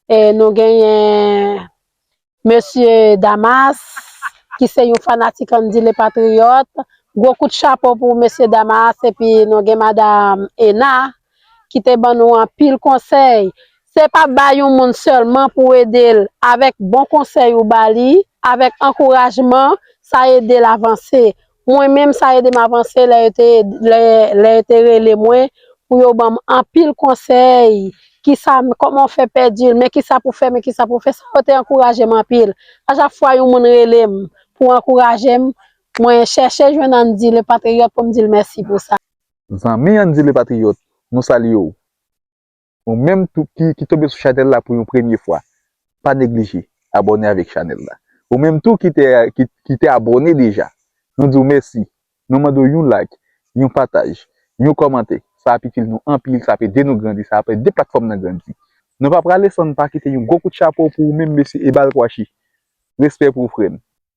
E nou genyen Mesye Damas ki se yon fanatik Andy le Patriote. Gwo kout chapo pou Mesye Damas epi nou gen Madam Ena ki te ban nou anpil konsèy. Se pa ba yon moun sèlman pou w ede l, avèk bon konsèy ou ba li, avèk ankourajman, sa ede l avanse. Mwen menm sa ede m avanse lè yo te rele mwen pou yo banm anpil konsèy kisa kòman fè pèdi l men kisa pou fè men kisa pou fè sa yo te ankouraje m anpil a chak fwa yon moun rele m pou ankouraje m mwen chèche jwenn Andy le patriote pou m di l mèsi pou sa. Zanmi Andy le patriote nou salye w. Ou menm tou ki ki tonbe sou chanèl la pou yon premye fwa pa neglije abòne avèk chanèl la. Ou menm tou ki te ki te abòne deja nou di w mèsi. Nou mande w yon like, yon pataj, yon kòmante sa ap itil nou anpil sa ap ede nou grandi sa ap ede platfòm nan grandi. Nou pa prale san n pa kite yon gwo kout chapo pou ou menm mesye Ebal Kwashi. Respè pou ou frè m.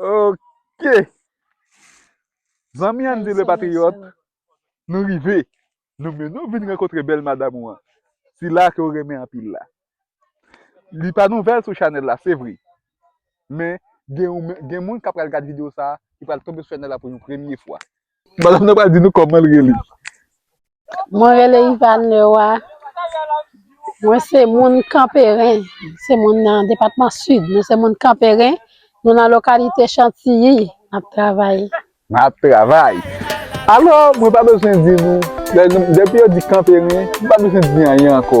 Ok. Zanmi Andy le patriote, nou rive. Nou men nou vin rankontre bèl madam ou an. Sila ke ou renmen anpil la. Li pa nouvèl sou chanèl la, se vre. Men, gen moun kap pral gad video sa, ki pral tonbe sou chanèl la pou yon premye fwa. Madam nan pral di nou kòman l rele. Mwen rele Yvane Leroy. Mwen se moun Kanperen. Se moun nan depatman Sid. Nou se moun Kanperen. Nou nan lokalite Chantiyi. N ap travay. N ap travay. Alò, mwen pa bezwen di nou, depi yo di Kanperen, mwen pa bezwen di anyen ankò.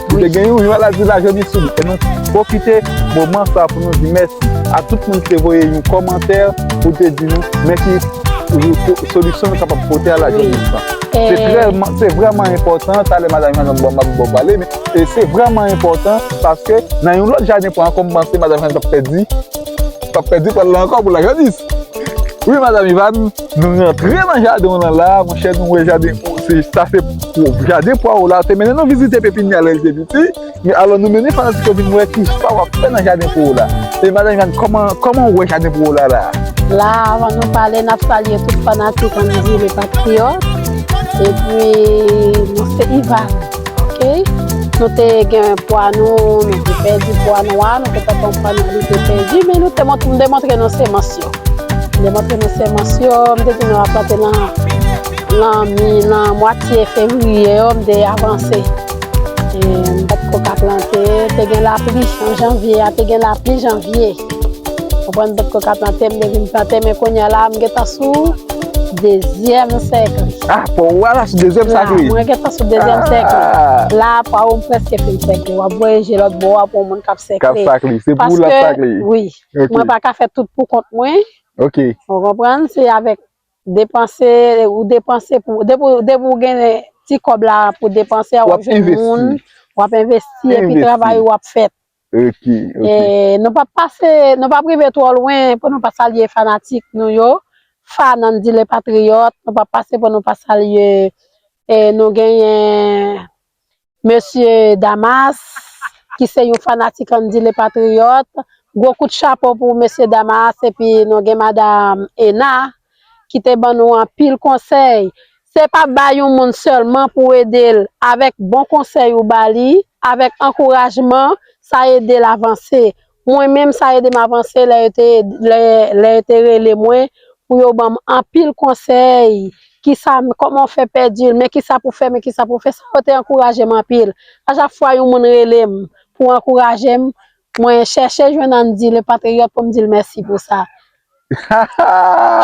Ou te gen yon jwèt la di la jodi sou li e nou pwofite moman sa pou nou di mèsi a tout moun ki te voye yon kòmantè pou te di nou mèsi pou solisyon nou kapab pote a la jodi sa. Se vrèman enpòtan, talè madanm Jeannot ba m yon pale men se vrèman enpòtan paske nan yon lòt jaden pran ankò m panse madanm Jeannot t ap pèdi pran l la ankò pou la jodi. Wi madanm Yvane? Nou rantre nan jaden w lan la, monchè nou wè jaden w se, sa se pwòp. Jaden pwa w la, te mennen nou vizite pepinyè lè l te piti, men alò nou mennen fanatik yo vin wè ki sa w ap fè nan jaden pwa w la. E madan Jàn, kòman, kòman w wè jaden pwa w la la a? La a, avan nou pale, n ap salye tout fanatik Andy Le Patriote. Epi, nou se Ivan, ok? Nou te gen pwa nou, nou te pèdi pwa nwa, nou te pèdi pwa nou, nou te pèdi, men nou te montre, m demontre nou semans yo. Lè mwen te nan semans yo, mwen te di nou a plante nan mi, nan mwatye fevriye yo, mwen te avanse. Mwen te kou ka plante, te gen la pli an janvye, a te gen la pli janvye. Mwen te kou ka plante, mwen te vin plante, mwen konye ala, mwen geta sou dezyem sekle. A, pou ou ala sou dezyem sekle? A, mwen geta sou dezyem sekle. La, pou ou mwen preske fin sekle. Wap voye je lòt bo a pou ou mwen kap sekle. Kap sakle, se pou ou la sakle. Paske, oui. Mwen pa ka fè tout pou kont mwen. Ou konprann? Se avèk depanse, ou depanse pou, depi ou gen ti kòb la pou depanse a, ou ap jwenn moun, ou ap envesti epi travay ou ap fèt. Nou p ap pase, nou p ap rive twò lwen pou nou pa salye fanatik nou yo, fàn Andy le Patriote, nou p ap pase pou nou pa salye, nou genyen Mesye Damas ki se yon fanatik Andy le Patriote. Gwo kout chapo pou Mesye Damas epi nou gen Madam Ena ki te ban nou anpil konsèy. Se pa ba yon moun sèlman pou w ede l avèk bon konsèy ou ba li, avèk ankourajman, sa ede l avanse. Mwen menm sa ede m avanse lè yo te rele mwen pou yo banm anpil konsèy kisa kòman ou fè pèdi l men kisa pou fè men kisa pou fè sa yo te ankouraje m anpil a chak fwa yon moun rele m pou ankouraje m mwen chèche jwenn Andy le patriote pou m di l mèsi pou sa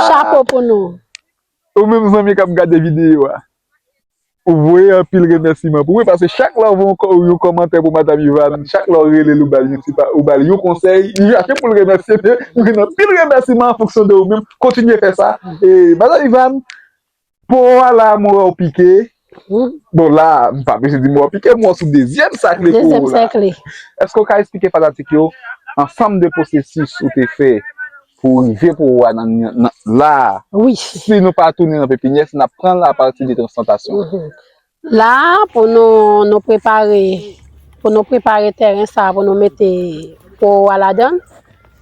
chapo pou nou. Ou menm zanmi kap gade video a ou voye anpil remèsiman pou mwen paske chak lè ou voye yon kòmantè pou madam Yvane chak lè ou relel ou bal yon ti ou bal yon konsèy li chache poul remèsye men ou gen anpil remèsiman an fonksyon de ou menm kontinye fè sa e madam Yvane po a la mwen wèw pike Bon la a, m pa blije di mwen w pike mwen sou dezyèm sakle pou ou la. Èske w ka esplike fanatik yo ansanm de pwosesis ou te fè pou w rive pou ou a nan la a? Si nou pa tounen nan pepinyè, si n ap pran l apati de transplantasyon. La a, pou nou prepare, pou nou prepare tèren sa a pou nou mete pou ou a ladan l,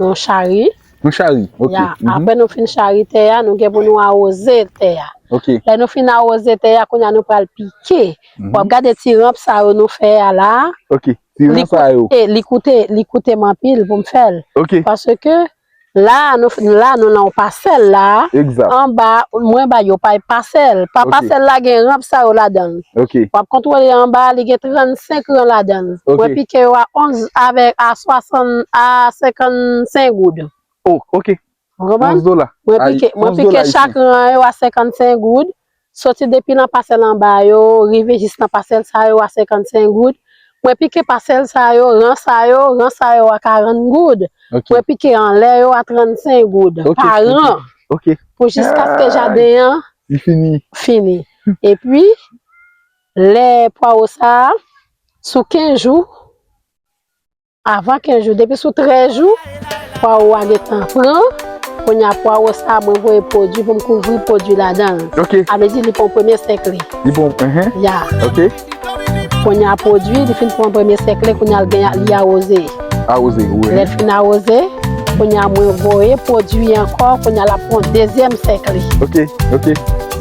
nou chari, Nou chari, ok. Ya, apre nou fin chari tè a, nou gen pou nou awoze tè a. Ok. Lè nou fin awoze tè a, kounye a nou pral pike. W ap gade ti ranp sa yo nou fè a la a. Ok, ti ranp sa yo. E, li koute, li koute m anpil pou m fè l. Ok. Paske, la a, nou fin, la a nou nan yon pasèl la a. Egzat. Anba, mwen ba yo pay pasèl. Pa pasèl la gen ranp sa yo ladan l. Ok. Wap kontrole anba a li gen 35 ran ladanl. Ok. Mwen pike yo a 11 avek a 60 a 55 goud. Oh ok. Ou konprann? 11 dola. Mwen pike, mwen pike chak ran an yo a 55 goud. Soti depi nan pasèl anba yo rive jis nan pasèl sa yo a 55 goud. Mwen pike pasèl sa yo, ran sa yo, ran sa yo a 40 goud. Ok. Mwen pike anlè yo a 35 goud. Ok. Pa ran. Ok. Pou jiskaske jaden an. Li fini. Fini. Epi, lè pwawo sa a, sou 15 jou, avan 15 jou, depi sou 13 jou, pwawo a gentan pran. Kounye a, pwawo sa a, mwen voye pwodui pou m kouvri pwodui ladan l. Ok. Amezi li pran premye sèk li. Li pran, enhen. Ya. Ok. Konya pwodwi li fin pran premye sèk li konya li gen li awoze. Awoze wi. Lèl fin awoze, konya mwen voye pwodwi ankò konya lap pran dezyèm sèk li. Ok, ok.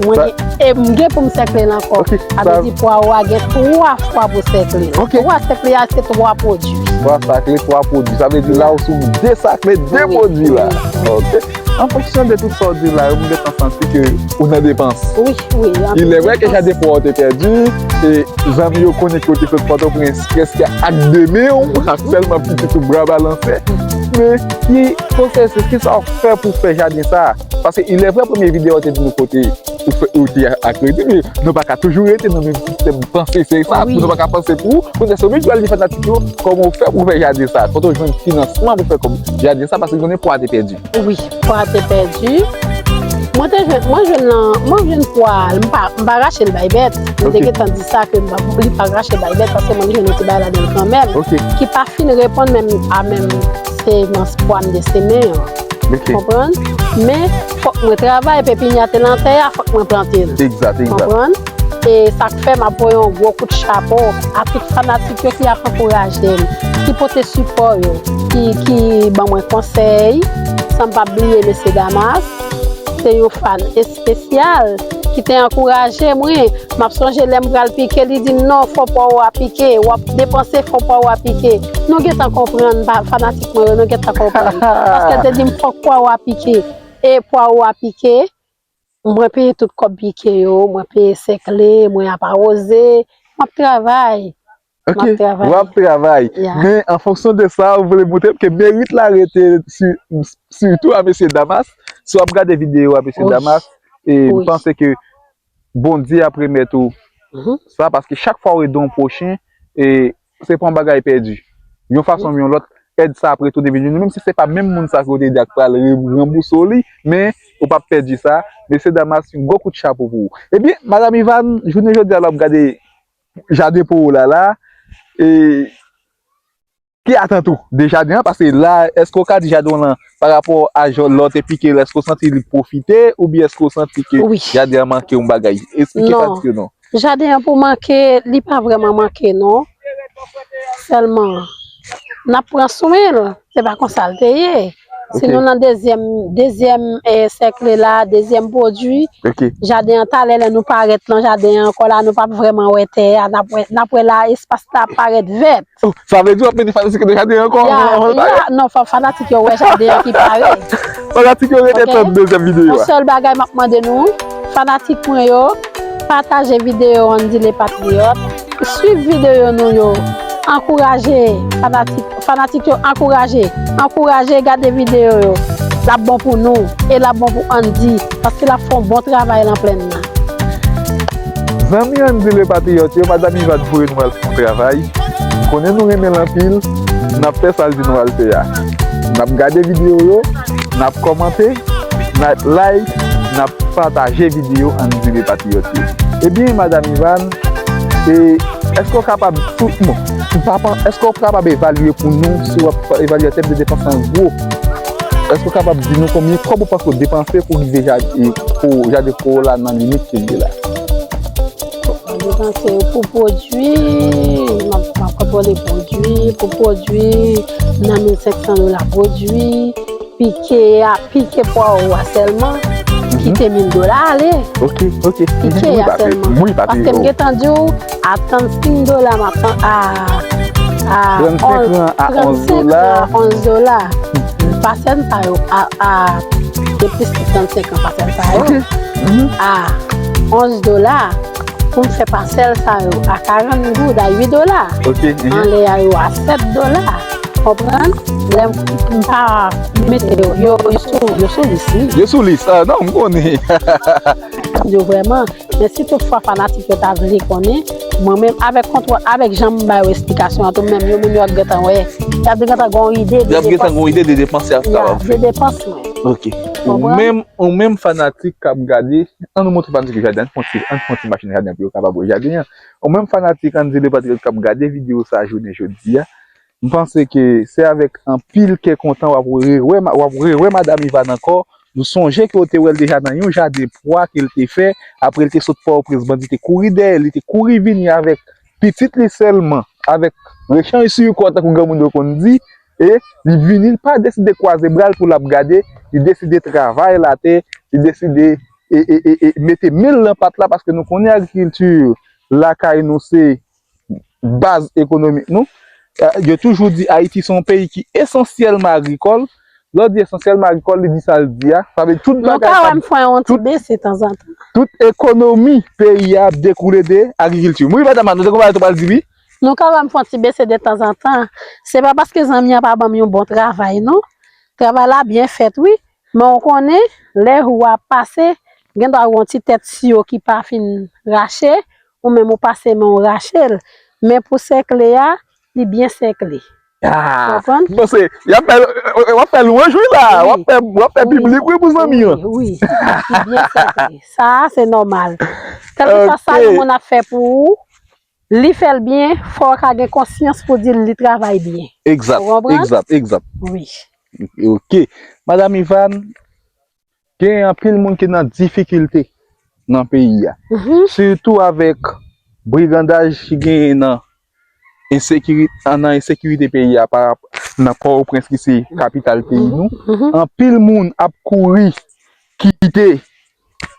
Mwen gen, e m gen pou m sèkle l ankò. Ok, sa. Sa vle di pwawo a gen 3 fwa pou sèkle. Ok. 3 sèkle a se 3 pwodwi. 3 sakle, 3 pwodwi. Sa vle di la ou sou 2 sakle, 2 pwodwi la. Wi. Ok. An fonksyon de tout sa w di la yo, m gentan santi ke ou nan depans. Wi, wi. Ilè vre ke jade pwa w te pèdi, e zanmi yo konnen ke w te sot Pòtoprens prèske ak de men w, ak sèlman pitit ou bra balanse. Men, ki pwosèsis, ki sa w fè pou w fè jaden sa a? Paske ilè vre premye videyo w te di nou kote. Ou fè ou di ak redi men nou pa ka toujou rete nan menm sistèm panse se sa pou nou pa ka panse pou ou se ou menm ki pral di fanatik yo kòman ou fè pou fè jaden sa kote ou jwenn finansman pou fè jaden sa paske ou konnen pou a te pèdi wi pou a te pèdi mwen te jwenn mwen jwenn nan mwen jwenn pou a m pa m pa rache l bay bèt mwen te gentan di sa ke m pa pou li pa rache l bay bèt paske mwen jwenn yon ti bagay la menm kan menm ki pa fin reponn menm a menm se nan pou a m destine an konprann men fòk mwen travay pepinya te nan tè a fòk mwen plante l. Egzat, egzat. Konprann? E sa k fè m ap voye yon gwo kout chapo a tout fanatik yo ki ap ankouraje m, ki pote sipò yo, ki ban mwen konsèy, san m pa bliye mesye Damas, se yon fan espesyal ki te ankouraje mwen. M ap sonje lè m pral pike li di m non fon pa ou a pike, w ap depanse fon pa ou a pike. Nou gentan konprann fanatik. Mwen renmen gen ta konpran. Paske te dim fok pwa ou a pike. E pwa ou a pike. Mwen peye tout kob pike yo. Mwen peye sekle. Mwen ap awoze. Map travay. Ok. Map travay. Wap travay. Ya. Men an fonksyon de sa ou vle montre. Pke merit la rete si. Sitou a mesye damas. Si wap gade video a mesye damas. Wi. E mpanse ke. Bondye ap remèt ou sa paske chak fwa ou ede yon pwochen se pa yon bagay pèdi yon fason oubyen yon lòt èd sa ap retounen vin jwenn ou menm si se pa menm moun sa ke ou te ede a ki pral ranbouse w li men ou pap pèdi sa mesye damas yon gwo kout chapo pou ou ebyen madam Ivan jounen jodi a lè w ap gade jaden po ou la la e. Ki atant ou de jaden an? Paske la eske ou ka di jaden w lan pa rapò a jan lò te pike l eske ou santi li pwofite oubyen eske ou santi ke jaden an manke yon bagay? Esplike fatigue w non. Jaden an pou manke li pa vrèman manke non sèlman n ap pran swen l se pa konsa l te ye si nou nan dezyèm dezyèm sèkle la dezyèm pwodui jaden an talè lè nou parèt nan jaden an ankò la nou p ap vrèman wè tè a n ap wè espas la ap parèt vèt. Sa vle di wap mete fanatik yo nan jaden an ankò avan l parèt? Non fòk fanatik yo wè jaden an ki pare. Fanatik yo rete tann dezyèm videyo a. Yon sèl bagay map mande nou, fanatik mwen yo, pataje videyo an di le patriyòt, swiv videyo nou yo, ankouraje fanatik, fanatik yo ankouraje, ankouraje gade videyo yo, lap bon pou nou e lap bon pou Andy. Paske lap fon bon travay lan plenn nan. Zanmi an di le patriyot yo madam iva t voye nou al fon travay konnen nou renmen l anpil nap fè sal di nou al fè a nap gade video yo nap komante nap like nap pataje video an di le patriyot yo ebyen madam iva e eske ou kapab tout nou eske ou kapab evalye pou nou si wap evalye an tèm de depans an gwo Èske ou kapab di nou konbyen kòb ou panse ou depanse pou rive Jardin Corolla nan limit ke l ye la? Mwen depanse pou pwodui, mwen kontwole pwodui, pou pwodui nan 1500 dola pwodui, pike a, pike pwa ou a sèlman, kite 1000 dola ale. Ok, ok. Pike a sèlman. Mwen pa te yo. Paske m gen tan di ou. Ap tann 5 dola map tann aa aa 35 ran a 11 dola 35 ran a 11 dola pasèm sa yo aa gen plis ke 35 ran pasèm sa yo aa 11 dola poum fè pasèl sa yo a 40 goud a 8 dola anlè a yo a 7 dola konprann lèm pa mete yo yo sou lis wi yo sou lis a nan m konnen hahaha yo vrèman men si tout fwa fanatik yo ta vle konnen mwen menm avèk kontwòl avèk janm ba yo esplikasyon an tou menm yo menm yo ap gentan wè yo ap gentan gon ide de depans yo ap gentan gon ide de depans yo ap ta wè de depans mwen ok ou menm ou menm fanatik kap gade an nou montre fanatik yo jaden an fon ti an fon ti machin jaden pou yo kapab wè jaden an ou menm fanatik andile patriyòt kap gade video sa jounen jodia M panse ke se avèk anpil kè kontan w ap rewè w ap rewè Madam Yvane ankò. Nou sonje ke w te wè l deja nan yon jaden pwa ke l te fè apre l te sot Pòtoprens. Bandi te kouri dèyè l, li te kouri vini avèk pitit li sèlman, avèk rechanj sou kò tankou granmoun yo konn di. E li vini, li pa deside kwaze bra l pou l ap gade, li deside travay la tè, li deside e e e mete men l nan pat la paske nou konnen agrikilti lakay nou se baz ekonomik nou, yo toujou di Ayiti se yon peyi ki esansyèlman agrikòl, lè w di esansyèlman agrikòl li di sa l di a, sa vle di tout bagay kap, tout ekonomi peyi a ap dekoule de agrikilti. Wi madam Anne, ou te gen yon bagay ou t apral di wi? Nou kapab fè yon ti bese detanzantan, se pa paske zanmi an pa ban m yon bon travay non, travay la byen fèt wi, men ou konnen lè jou a ap pase, gen dwa gen yon ti tèt siyo ki pa fin rache, Ou menm ou pase men w rache l. Men pou sèkle a, li byen sèkle. Konprann? M panse, y ap fè, w ap fè lwanj wi la a. W ap fè biblik wi pou zanmi an. Wi, wi. Li byen sèkle. Sa a se nòmal. Kèlkeswa sa yon moun ap fè pou ou, li fè l byen, fò w ka gen konsyans pou w di l li travay byen. Egzat, egzat, egzat. Wi. Ok. Madam Ivann. Gen anpil moun ki nan difikilte nan peyi a. Sitou avèk brigandaj ki genyen nan ensekirite peyi a nan Pòtoprens ki se kapital peyi nou. Anpil moun ap kouri kite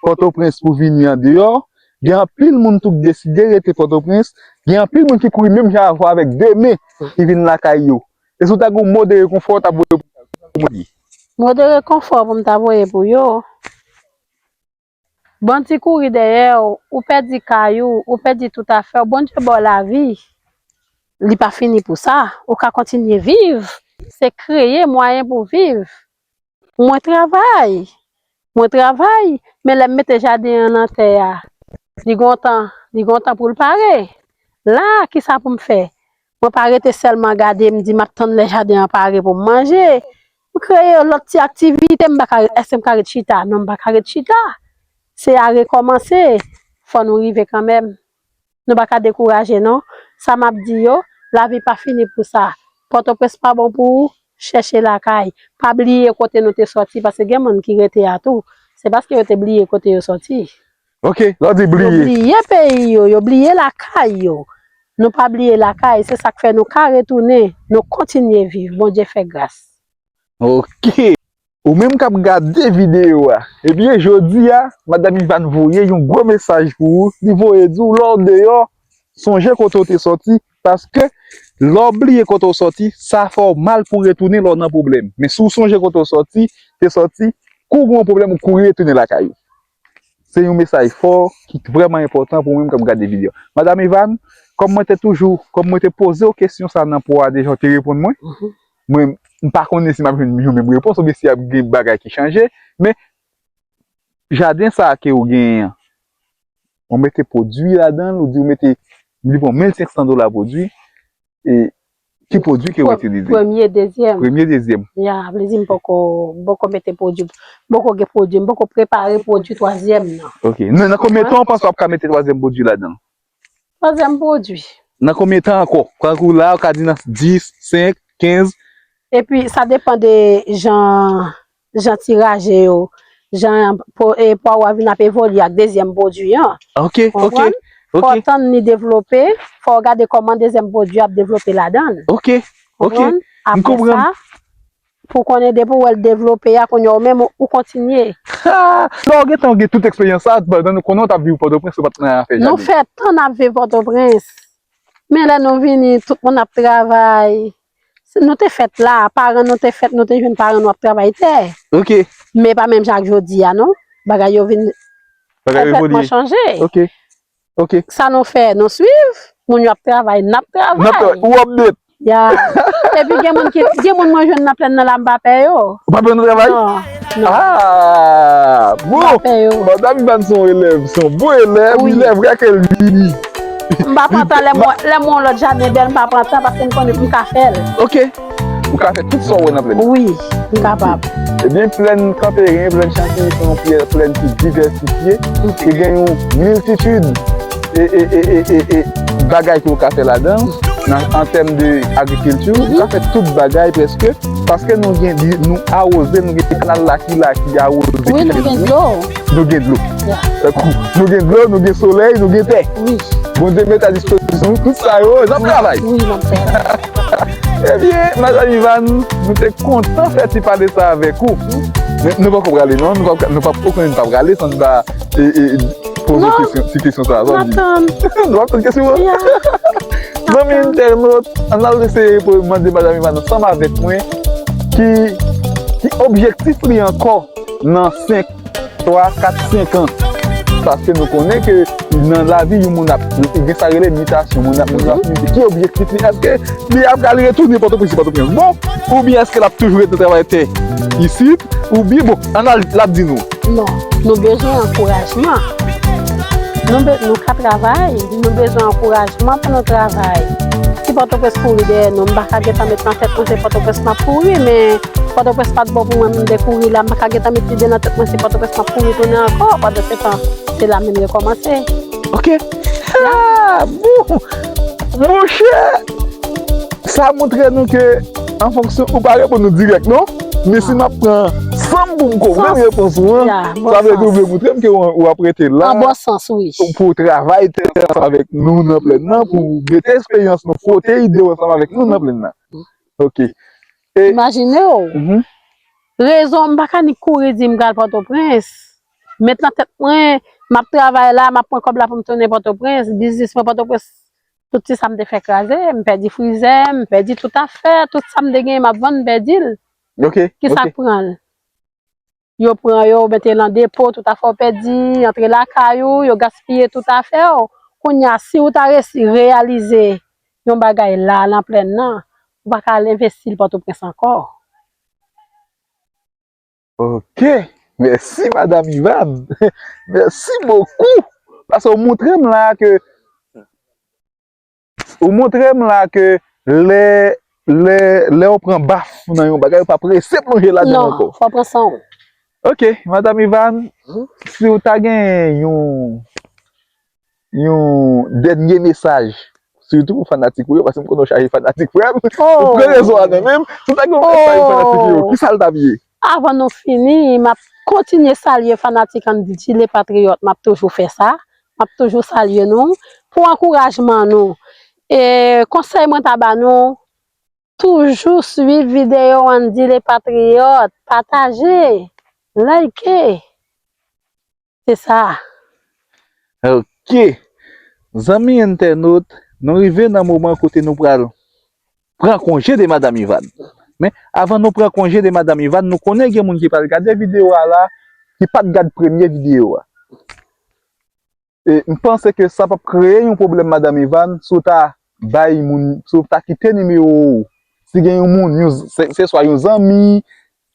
Pòtoprens pou vini andeyò. Gen anpil moun tou ki deside rete Pòtoprens. Gen anpil moun ki kouri menm jan avèk de men ki vin lakay yo. E si w ta gen yon mo de rekonfò w ta voye pou yo, ki sa w di? Mo de rekonfò pou m ta voye pou yo, Bondye kouri dèyè w, ou pèdi kay ou, ou pèdi tout afè w, Bondye ba w lavi, li pa fini pou sa, ou ka kontinye viv, se kreye mwayen pou w viv. Mwen travay, mwen travay, men lè m mete jaden an nan tè a, li gon tan, li gon tan pou l pare. La a, ki sa pou m fè? Mwen pa rete sèlman gade, m di m ap tann lè jaden an pare pou m manje. M kreye yon lòt ti aktivite, m pa ka, èske m ka ret chita? Non, m pa ka ret chita. Se a rekòmanse, fò nou rive kanmenm. nou pa ka dekouraje non, sa map di yo, lavi pa fini pou sa, pòtoprens pa bon pou ou, chèche lakay, pa bliye kote nou te sòti paske gen moun ki rete a tou, se paske yo te bliye kote yo sòti. Ok, lè w di bliye. Yo bliye peyi yo, yo bliye lakay yo, nou pa bliye lakay, se sak fè nou ka retounen, nou kontinye viv, Bondye fè gras. Ok. Ou menm k ap gade videyo a, ebyen jodi a Madam Ivàn voye yon gwo mesaj pou ou, li voye di w lè w deyò sonje kote w te sòti paske lè w bliye kote w sòti sa fè w mal pou w retounen lè w nan pwoblèm men si w sonje kote w sòti te sòti kou w gen yon pwoblèm ou kouri retounen lakay ou se yon mesaj fò ki vrèman enpòtan pou mwen menm k ap gade videyo a Madam Ivàn kòm mwen te toujou kòm mwen te poze w kesyon sa nan pwa deja ou te reponn mwen Mwen m pa konnen si m ap jwenn yon menm repons oubyen si y ap gen bagay ki chanje, men jaden sa a ke ou genyen an, ou mete pwodui ladan l, ou di ou mete, m di bon, 1500 dola pwodui, e ki pwodui ke ou itilize? Premye, dezyèm. Premye, dezyèm. Ya, vle di m poko, m poko mete pwodui, m poko gen pwodui, m poko prepare pwodui twazyèm nan. Ok. Nan konbyen tan ou panse w ap ka mete twazyèm pwodui ladan l? Twazyèm pwodui. Nan konbyen tan ankò? Tankou la ou ka di nan 10, 5, 15. Epi sa depan de jan tiraje yo, jan pwa ou a vin ap evolye ak dezyèm pwodui an. Ok, ok. Konprann? Fò ou tann li devlope, fò ou gade kòman dezyèm pwodui a ap devlope ladan l. Ok, ok. M konprann. Apre sa. Pou konnen depi ou wèl devlope a kounya ou menm ou kontinye. Haa lè ou gentan gen tout eksperyans sa pandan nou konnen ou tap viv pòtoprens ou pat nan afè jade. Nou fè tan nap viv pòtoprens men lè nou vini tout moun ap travay nou te fèt la paran nou te fèt nou te jwenn paran nou ap travay tè ok men pa menm jan ak jodi a non bagay yo vin konplètman chanje ok. Ok. Sa nou fè, nou swiv. Moun yo ap travay, n ap travay. N ap travay. Ou update. Ya. Epi gen moun ki, gen moun mwen jwenn nan plenn nan la m pa pè yo. Ou pa pè yo nan travay? Non. Non. Haa! Bon! M pa pè yo. Madam Ivan se yon elèv, se yon bon elèv. Wi. Lè vre kè l vini. M pa pran tan lè m wè, lè m wè yon lòt jaden bèl m pa pran tan paske m konnen pou m ka fè l. Ok. Ou ka fè tout sa w wè nan plèn. Wi, m kapab. Ebyen, plèn Kanperen, plèn Chantiry se yon plèn ki divèsifye, ki gen yon miltitid e bagay ke w ka fè ladan l, an tèm de agrikilti, ou ka fè tout bagay prèske, paske nou gen di, nou awoze, nou gen kanal la ki la ki awoze. Wi, nou gen dlo. Nou gen dlo. Nou gen dlo, nou gen solèy, nou gen tè. Wi. Bondye met a dispozisyon nou tout sa yo, n ap travay. Wi, n ap travay. Ebyen Madan Ivan nou te kontan fè ti pale sa avèk ou Men nou poko prale non Nou pa pou konnen nou pa prale San nou pa poze kesyon Ti kesyon sa Non nou ap tann kesyon an Zanmi entènot An al eseye pou mande Madan Ivan ansanm avèk mwen Ki objektif li ankò Nan 5 3, 4, 5 ans Paske nou konnen ke nan lavi yon moun ap gen sa rele mutasyon. Moun ap moun ap mute. Ki objektif li? Eske li ap pral retounen Pòtoprens si Pòtoprens bon? Oubyen eske l ap toujou rete travay tè isit? Oubyen bon, an al l ap di nou. Non. Nou bezwen ankourajman. Nou be, nou ka travay. Nou bezwen ankourajman pou nou travay. Si Pòtoprens kouri dèyè nou, m pa ka gen tan met nan tèt nou se Pòtoprens m ap kouri men. Pòtoprens pat bon pou mwen m dekouri la m paka gentan met lide nan tèt mwen se Pòtoprens map kouri tounen ankò pandan se tan se la menm yo kòmanse Ok Haa boo Monchè Sa montre nou ke an fonksyon ou pa reponn nou dirèk non men si map pran san m pou m konprann repons ou an sa vle di ou vle montre m ke ou ap rete la Nan bon sans wi Pou w travay tè ansanm avèk nou nan plèn nan pou w mete esperyans nou fwote ide w ansanm avèk nou nan plèn nan Ok Imajine w, rezon m pa ka ni kouri di m pral Pòtoprens, met nan tèt mwen, m ap travay la, m ap pran kòb la pou m tounen Pòtoprens, biznis mwen Pòtoprens, tout ti sa m te fè kraze, m pèdi frizè, m pèdi tout afè, tout sa m te genyen m ap vann m pèdi l, ki sa k pran l? yo pran yo yo mete nan depo tout afè w pèdi antre lakay ou yo gaspiye tout afè w kounya si ou ta resi reyalize yon bagay la nan plèn nan ou pa ka al envesti l pòtoprens ankò. Ok mèsi madam Ivann mèsi bokou pasè w moutre m la ke Ou montre m la ke lè, lè, lè ou pran baf nan yon bagay ou pa prese plonje ladan l ankò. Non, fò w pran san w. Ok, Madam Ivan, si ou ta gen yon, yon dènye mesaj, sitou pou fanatik ou yo, paske m konnen ou chaje fanatik frè m, ou pran rezon an nan men m, si ou ta gen yon mesaj pou fanatik ou yo, ki sa l t ap ye? Avan nou fini map kontinye salye fanatik Andy-G le patriote map toujou fè sa map toujou salye nou pou ankourajman nou e konsèy mwen ta ba nou toujou swiv video Andy le patriote pataje like. Se sa a. Ok! Zanmi entènot, nou rive nan moman kote nou pral pran konje de Madam Ivann. Men, avan nou pran konje de Madam Ivann, nou konnen gen moun ki pral gade videyo a la, ki pa t gad premye videyo a. E, m panse ke sa p ap kreye yon pwoblèm Madam Ivann, si w ta bay moun, si w ta kite nimewo ou, si gen yon moun, yon, se swa yon zanmi,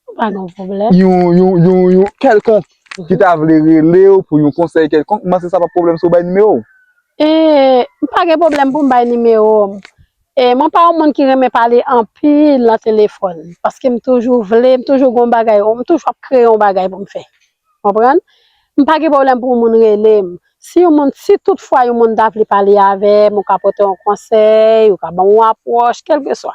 Ou pa gen yon pwoblèm? Yon, yon, yon, yon kèlkonk ki ta vle rele ou pou yon konsèy kèlkonk, m panse sa pa pwoblèm si ou bay nimewo ou. E, m pa gen pwoblèm pou m bay nimewo m. E, mwen pa yon moun ki renmen pale anpil nan telefòn. Paske m toujou vle, m toujou gen yon bagay, m toujou ap kreye yon bagay pou m fè. Konprann? M pa gen pwoblèm pou yon moun rele m. Si yon moun, si tout fwa yon moun ta vle pale avè m, ou ka pote yon konsèy, ou ka ban m yon apwòch, kèlkeswa.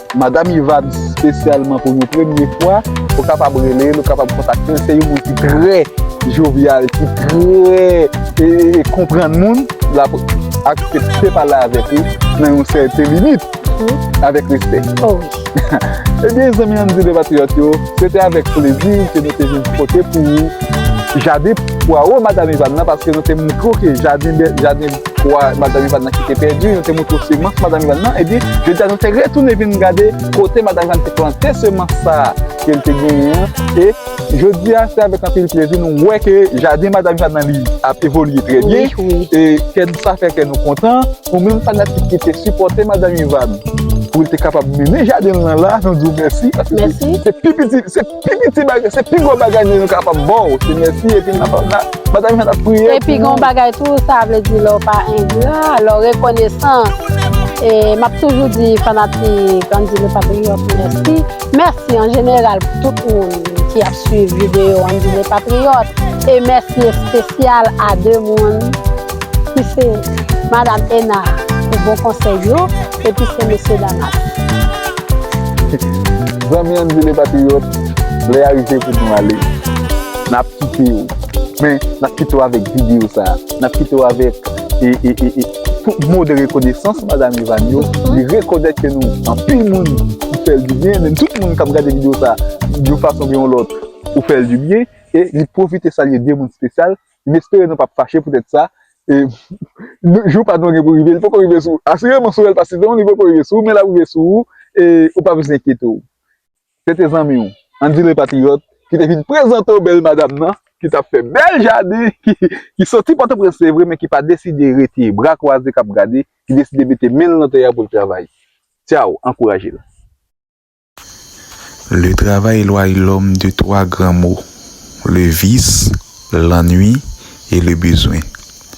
Madam Iva di spesyalman pou yon premye fwa, ou kapab rele l, ou kapab kontakte l, se yon moun ki trè jovyal, ki trè konprann moun, l ap aksepte pale avèk ou nan yon sèten limit, avèk respè. O wi. Ebyen zanmi an m di depatriyòt yo, se te avèk plezi ke nou te vin pote pou ou jaden pwawo Madam Iva nan, paske nou te montre w ke jaden, jaden. pwa Madam Ivan nan ki te pèdi, nou te montre semans Madam Ivan nan, epi jodi a nou te retounen vin gade kote Madam Ivan te plante semans sa a ke l te genyen an, e jodi a se avèk anpil plezi nou wè ke jaden Madam Ivan nan li ap evolye trè byen, e kè nou sa fè kè nou kontan, nou menm fanatik ki te sipòte Madam Ivan pou l te kapab mennen jaden l nan la, nou di w mèsi, paske se pi piti. Epi ti bagay, se pi gwo bagay nou kapab ba w, se mèsi epi nan ap batay nou fè n ap priye pou nou. Epi gen yon bagay tou, sa vle di lè w pa engra, lè w rekonesan, e m ap toujou di fanatik Andy Le Patriote mèsi, mèsi an jeneral pou tout moun ki ap swiv videyo Andy Le Patriote, e mèsi espesyal a 2 moun ki se Madam Ena pou bon konsèy yo. epi se mesye dam ap. Zanmi an di le patriyòt, lè a rive pou nou ale. N ap kite yo. Men, n ap kite yo avèk videyo sa a. N ap kite yo avèk tout mo de rekonesans Madam Evany yo. Li rekonèt ke nou anpil moun ki fè l di byen. Menm tout moun k ap gade videyo sa a, yon fason oubyen yon lòt, ou fè l di byen. E li pwofite salye de moun spesyal. M espere nou pap fache poutèt sa. E jou pa nou an gen pou rive, li poko rive sou ou. Asireman sou Elpas Citron li poko rive sou ou, men l ap rive sou ou e ou pa bezwen enkyete w. Se te zanmi w, Andy Le Patriote, ki te vin prezante w bèl madam nan, ki t ap fè bèl jaden, ki soti Pòtoprens se vre men ki pa deside rete bra kwaze k ap gade, ki deside mete men l nan tè a pou l travay. Tchaw! Ankouraje l. Le travay elwaye lòm de twa gran mo, le vis, lannwi e le bezwen.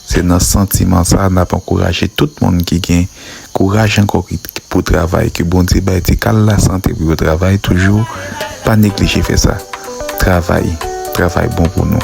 Se nan santiman sa n ap ankouraje tout moun ki gen kouraj ankò pou travay ke Bondye bay ti kal la sante pou yo travay toujou pa neglije fè sa. Travay, travay bon pou nou.